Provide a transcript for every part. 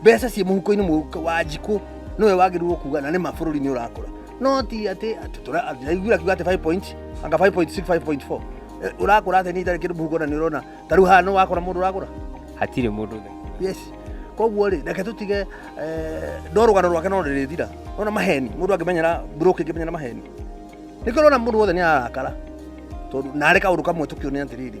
mbeca ciĩ mũhuko-inĩ mũhuko wa njikũ nĩwe wagĩrĩirwo kuga na nĩ ma bũrũri nĩ ũrakũra no ti atĩ aiguĩra kiuga atĩ 5 point anga 5.6 5.4 Eh, ũrakũra atĩ nĩ itarĩ kĩndũ mũhuko na nĩ ũrona ta rĩu haha nĩ wakora mũndũ ũrakũra hatirĩ mũndũ thĩ yes koguo rĩ reke tũtige eh, ndo rũgano rwake no rĩrĩthira ona maheni mũndũ angĩmenyera broke ingĩmenyera maheni nĩkĩo ũrona mũndũ wothe nĩ ararakara tondũ narĩ kaũndũ kamwe tũkĩone atĩrĩrĩ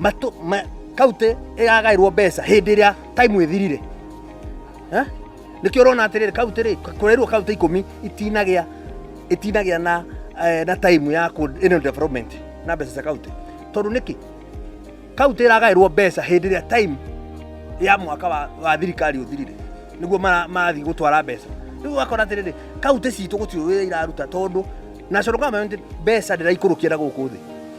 matũ ma, kaunti ĩragaĩrwo mbeca hĩndĩ ĩrĩa time ĩthirire Eh? nĩkĩo ũrona atĩrĩrĩ kaunti rĩ kũreirwo kaunti ikũmi itinagĩa itinagĩa na eh, na time ya kũ- ĩno development na mbeca cia kaunti tondũ nĩkĩ kaunti ĩragaĩrwo mbeca hĩndĩ ĩrĩa time ya mwaka wa, wa thirikari ũthirire nĩguo mara- marathiĩ gũtwara mbeca rĩu ũgakora atĩrĩrĩ kaunti citũ gũtirĩ wĩra iraruta tondũ national government mbeca ndĩraikũrũkia na gũkũ thĩ